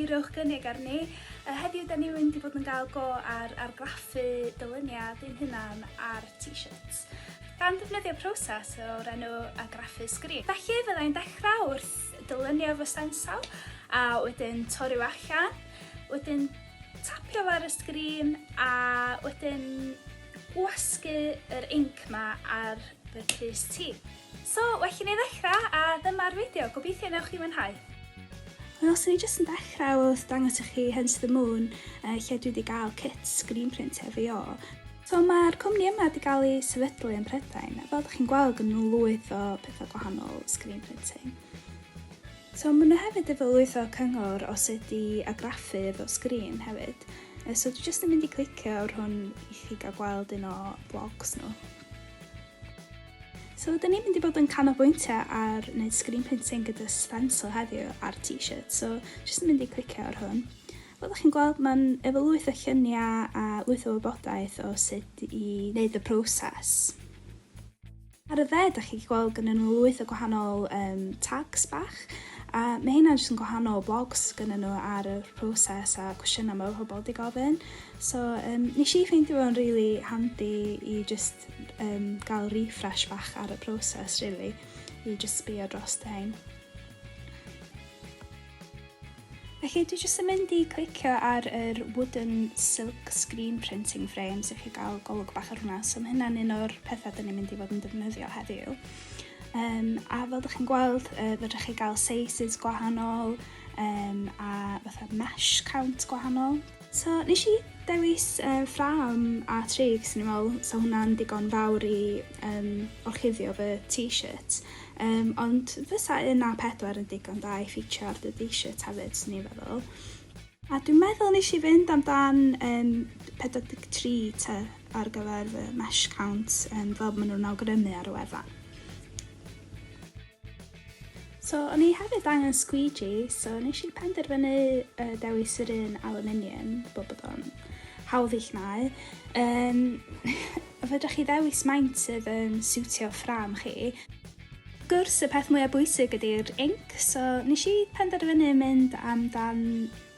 rhowch gynnig arni. Uh, heddiw, da ni'n mynd i fod yn gael go ar argraffu dylyniad ein hunan ar t-shirts. Gan ddefnyddio proses o'r enw argraffu sgrin. Felly, fyddai'n dechrau wrth dylunio fy stencil a wedyn torri o allan, wedyn tapio ar y sgrin a wedyn gwasgu yr inc ma ar fy crys ti. So, well i ni ddechrau a dyma'r fideo, gobeithio newch chi mwynhau. Wel, so ni jyst yn dechrau wrth dangos i chi Hence the Moon, uh, lle dwi wedi gael kit screen print hefo o. So mae'r cwmni yma wedi cael ei sefydlu yn Prydain a fel dych chi'n gweld gynnu nhw lwyth o pethau gwahanol, screen printing. So maen nhw hefyd efo lwyth o cyngor o sut i agraffu efo sgrin hefyd. So dwi jyst yn mynd i clicio ar hwn i chi gael gweld un o blogs nhw. So dyn ni'n mynd i bod yn canolbwyntio ar wneud screen printing gyda stencil heddiw ar t-shirt, so jyst yn mynd i clicio ar hwn. Fel dach chi'n gweld, mae'n efo lwyth o lluniau a lwyth o wybodaeth o sut i wneud y proses. Ar y dde, dach chi'n gweld gyda nhw lwyth o gwahanol um, tags bach, a mae hynna jyst yn gwahanol blogs gyda nhw ar y proses a cwestiynau mae pobl wedi gofyn. So, um, nes i ffeindio fo'n rili really handi i just um, gael refresh bach ar y proses, really, i just sbio dros dy hyn. Felly dwi jyst yn mynd i clicio ar yr wooden silk screen printing frame sy'n chi gael golwg bach ar hwnna, so mae hynna'n un o'r pethau dyn ni'n mynd i fod yn defnyddio heddiw. Um, a fel ydych chi'n gweld, uh, fydrych chi gael sizes gwahanol um, a fatha mesh count gwahanol. So nes i dewis uh, ffram a trig sy'n i'n meddwl sa hwnna'n digon fawr i um, orchuddio fy t-shirt. Um, ond fysa un a pedwar yn digon da i ffitio ar dy t-shirt hefyd sy'n i'n feddwl. A dwi'n meddwl nes i fynd amdan um, 43 te ar gyfer fy mesh count um, fel maen nhw'n awgrymu ar y wefan. So o'n i hefyd angen squeegee, so nes i penderfynu uh, dewis yr un aluminium, bod bod o'n hawdd i'ch nau. Um, fydra chi ddewis maint sydd yn siwtio ffram chi. Gwrs, y peth mwyaf bwysig ydy'r inc, so nes i penderfynu mynd amdan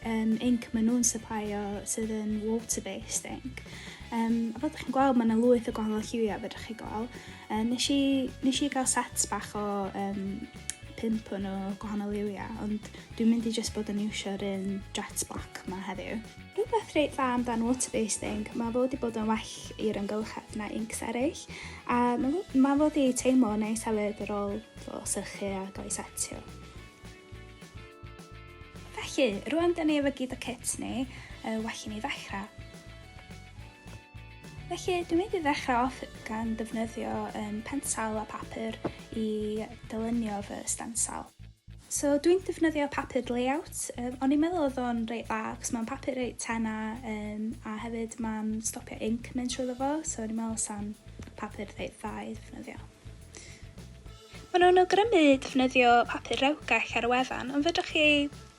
um, inc maen nhw'n supplyio sydd yn water-based inc. Um, a fel ydych chi'n gweld, mae yna lwyth o gwahanol lliwiau fe ydych chi'n gweld. Um, nes, i, nes i gael sets bach o um, pimp o'n o gwahanol lliwiau, ond dwi'n mynd i just bod yn iwsio'r un jet black ma heddiw. Rhywbeth reit dda amdan water-based inc, mae fod wedi bod yn well i'r ymgylchedd na incs eraill, a mae fod wedi teimlo neis hefyd ar ôl sychu a gael ei setio. Felly, rwan da ni efo gyd o kits ni, uh, well i ni ddechrau. Felly, dwi'n mynd i ddechrau off gan defnyddio um, pensal a papur i dylunio fy stansal. So, dwi'n defnyddio papur layout. Um, o'n i'n meddwl oedd o'n reit dda, cos mae'n papur reit tena, um, a hefyd mae'n stopio inc mynd trwy fo, so o'n i'n meddwl sa'n papur reit dda i ddefnyddio. Maen nhw'n awgrymu defnyddio papur rewgell ar y wefan, ond fedrwch chi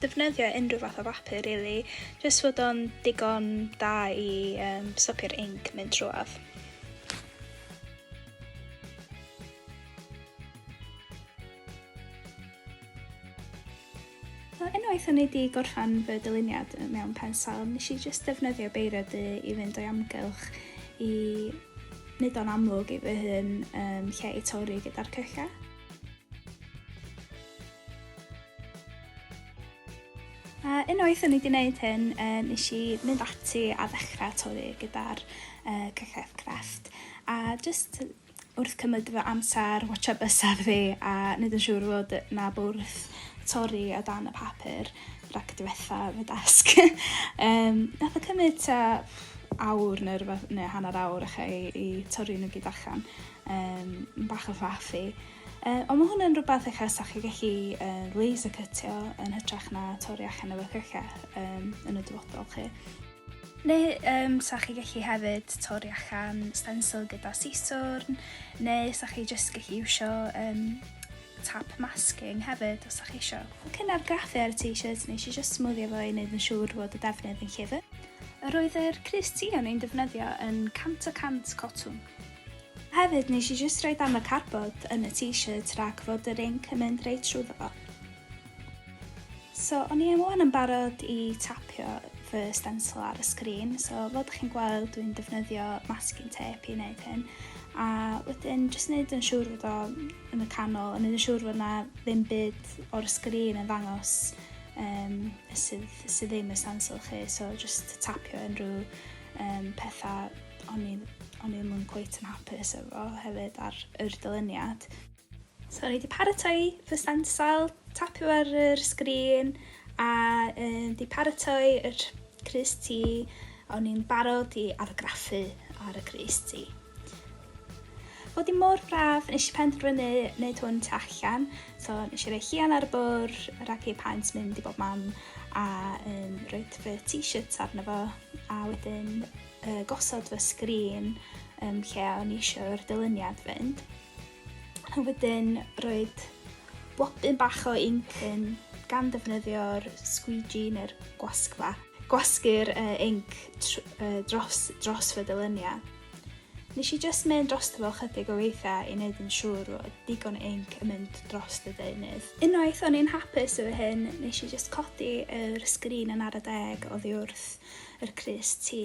defnyddio unrhyw fath o bapur rili, really, jyst fod o'n digon da i um, stopio'r inc mynd trwad. Wel, unwaith o'n i 'di gorffan fy dyluniad mewn pensel, nes i jyst defnyddio beiro du i fynd o'i amgylch i wneud o'n amlwg i fy hun um, lle i torri gyda'r cylla. A unwaith o'n i wedi gwneud hyn, uh, nes i mynd ati a ddechrau torri gyda'r uh, cyllell crefft. A just wrth cymryd fy amser, watsio bysedd fi a neud yn siŵr fod 'na bwrdd torri o dan y papur rhag diwetha fy dasg. um, nath o cymryd ta awr neu rhywbeth, neu hanner awr eich i, i torri nhw gyd allan. Um, bach o faff i. Uh, ond mae hwnna'n rhywbeth eich as chi gallu uh, laser cytio yn hytrach na torri allan efo cyrchau um, yn y dyfodol chi. Neu um, sa chi gallu hefyd torri allan stencil gyda siswrn, neu sa chi jyst gallu iwsio um, tap masking hefyd os sa chi isio. Cyn argraffu ar y t-shirt nes i jyst smwddio fo i wneud yn siŵr fod y defnydd yn llyfr. Yr oedd yr crys ti o'n i'n defnyddio yn 100 o 100 cotwm. Hefyd nes i jyst rhoi dan y carbod yn y t-shirt rhag fod yr inc yn mynd reit trwyddo fo. So, o'n i wan yn barod i tapio fy stencil ar y sgrin, so fel ydych chi'n gweld dwi'n defnyddio masking tape i wneud hyn, a wedyn jyst wneud yn siŵr fod o yn y canol, yn wneud yn siŵr fod yna ddim byd o'r sgrin yn ddangos um, sydd, sydd ddim y stencil chi, so jyst tapio unrhyw um, pethau o'n i, o'n i ddim yn cweith yn hapus efo hefyd ar yr dyluniad. So o'n i 'di paratoi fy stencil, tapio ar yr sgrin a um, 'di paratoi yr crys T, o'n i'n barod i argraffu ar y crys T. Oedd i mor braf, nes i penderfynu wneud hwn tu allan, so nes i roi chian ar y bwr, ragu paent mynd i bob mam, a um, roed fy t-shirt arno fo, a wedyn uh, gosod fy sgrin um, lle o'n i eisiau'r dyluniad fynd. A wedyn roed blodyn bach o inc yn gan ddefnyddio'r squeegee neu'r gwasgfa. Gwasgu'r uh, inc uh, dros, dros fy dyluniau. Nes i just mynd dros fel chydig o weithiau i wneud yn siŵr o digon inc yn mynd dros y deunydd. Unwaith o'n i'n hapus efo hyn, nes i just codi yr sgrin yn ar y deg oddi wrth yr crys ti.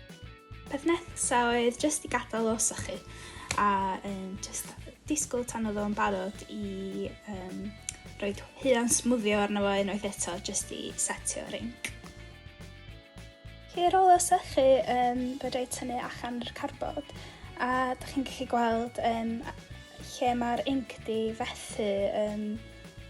Peth nesa oedd jyst i gadael o sychu a um, jyst disgwyl tan oedd o'n barod i um, roi huan smwddio arno fo unwaith eto jyst i setio rinc. Chi ar ôl o sychu, um, fe rhaid tynnu allan yr carbod a da chi'n gallu gweld um, lle mae'r inc di fethu um,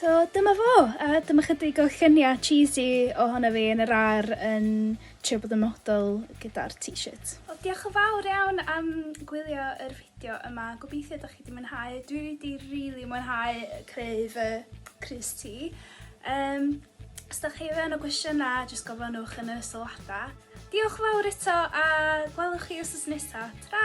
So dyma fo, a dyma chydig o lluniau cheesy ohono fi yn yr ar yn trio bod yn model gyda'r t-shirt. Wel, diolch yn fawr iawn am gwylio yr fideo yma. Gobeithio ydych chi wedi mwynhau. Dwi wedi rili really mwynhau creu fy crys ti. Um, os ydych chi fe yn o gwestiynau, jyst gofynnwch yn y sylwadau. Diolch yn fawr eto a gwelwch chi os nesaf. Ta!